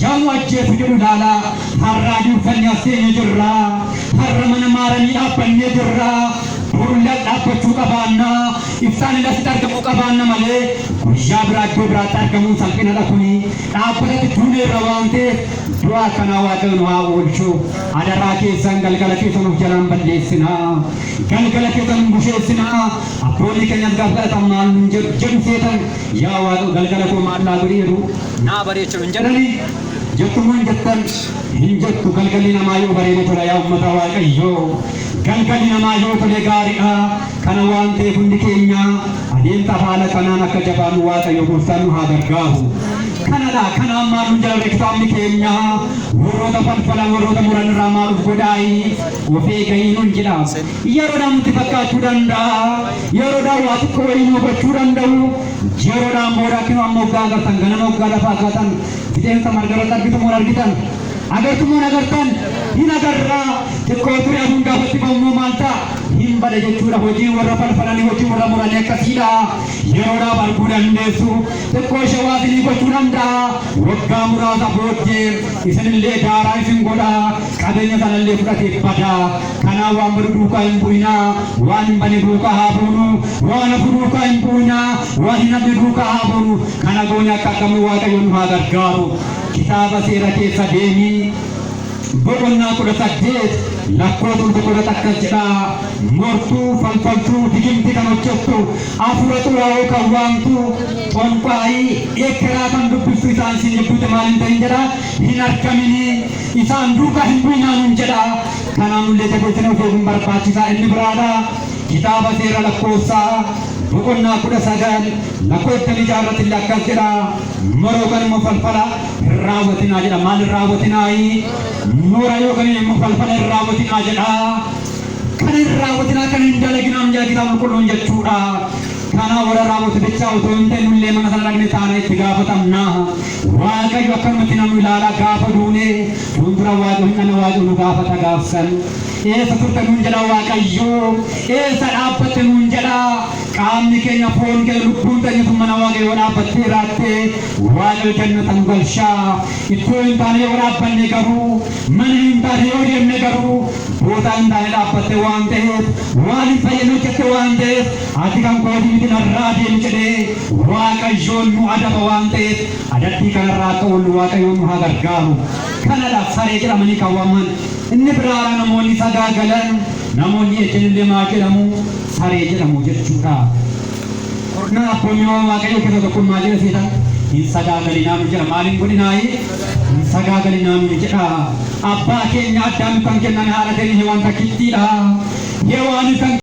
Yammu ajjeesu jedhu ilaala harraayyuu uffanni as seene jirra harra mana maaramii dhaabbannee jirra boru lal dhaabbachuu qabaanna iftaan hin asitti argamuu qabaanna malee guyyaa biraa iddoo biraatti argamuun salphinadha kuni dhaabbatatti duune irra waan ta'eef du'a akkanaa waaqayyo nu haa oolchu adaraa keessan galgala keessan of jalaan balleessina galgala keessan hin busheessina abboonni keenyas gaaf galatan maal nun jedhu jedhu seetan yaa waaqayyo galgala koo maal naa godhi jedhu naa bareecha hin jedhu. Galii jettu moo hin jettan? Hin jettu galgalli namaa yoo bareede tola yaa ummata waaqayyoo galgalli namaa yoo tole gaariidha kana waan ta'eef hundi keenya adeemsa haala kanaan akka jabaannu waaqayyo gooftaan nu haa gargaaru kanadha kana ammaa nu jalare kitaabni keenya warroota falfalan warroota muran irraa maaluuf godhaayi of eeganii nun jedha yeroodhaan nutti fakkaachuu danda'a yeroodhaan waa xiqqoo wayii nu gochuu danda'u Ji'a lolaan booda akkuma amma hoggaa agartan ganama hoggaa lafa agartan fixeensa margarratti argitamu hin argitan. Agartumoo hin agartan hin agarraa xiqqoo ture aduun gaafatti ba'ummoo maal ta'a hin bada jechuudha hojiin warra falfalanii hojiin warra muranii akkasiidha. Yeroodhaaf arguu dandeessu xiqqoo ishee waa isinii gochuu danda'a waggaa muraasa booddee isinillee daaraa isin godha qabeenya sanallee fudhatee bada. Kanaaf waan badu duukaa hin bu'inaa, waan hin bane duukaa haa buunu, waan hafu duukaa hin bu'inaa, waan hin hafne duukaa haa buunu. Kana goone akka argamnu Waaqayyo nu haa gargaaru. Kitaaba Seera keessa deemi. Boqonnaa 18 lakkoofsa 11 akkas jedha, Mortuu, falfaltuu, digimti kan hojjettu, hafuura xuraa'oo kan waamtu, xonqaa'ii, eekkeraa kan dubbistu isaan isin gidduutti maal hin ta'in jedha, hin argamini. Isaan duukaa hin bu'inaa nuun jedha. Kanaanullee tajaajila ofeeguun barbaachisaa inni biraadha. Kitaaba seera lakkoofsaa boqonnaa kudha sagal lakkoofsa ijaa irratti illee akkas jedha. Mora yookaan immoo falfala hin raawwatinaa jedha. Maal hin raawwatinaayi? Mora yookaan immoo falfala hin raawwatinaa jedha. Kan hin raawwatinaa kan hin dalaginaa miyaa kitaaba qulqulluun jechuudha. Kanaa warra raawwatu bichaa otoo hin ta'in nullee mana sana dhaqne taana itti gaafatamna. Waaqayyo akkamitti na nu ilaala gaafa duune fuuldura Waaqayyo hin dhana Waaqayyo nu gaafata gaaf san eessa turte nuun jedha Waaqayyo eessa dhaabbatte nuun jedha qaamni keenya foon keenya lubbuun teenya sun mana Waaqayyo yoo dhaabbatte jiraatte Waaqayyo jannata nu galcha iddoo hin taane yoo dhaabbanne garuu mana hin taane yoo deemne garuu boodaa hin taane dhaabbatte waan ta'eef waan hin fayyadne hojjette waan ta'eef Ati kan kooti miti narraa deemi jedhee waaqayyoon nu adaba waan ta'eef adabbii kanarraa akka oollu waaqayyoon nu haa gargaaru. Kanadha saree jedhamanii kan waamman. Inni biraara namoonni sagaagalan namoonni ejjanillee maal jedhamu? Saree jedhamu jechuudha. Kurnaan abboomiiwwan waaqayyoo keessaa tokkoon maal jedha seetan? Hin sagaagalinaa nu jedha. Maal hin godhinaayi? Hin sagaagalinaa nu jedha. Abbaa keenya Addaamiif kan kenname haadha keenya Hewaan takkittiidha. Hewaanis kan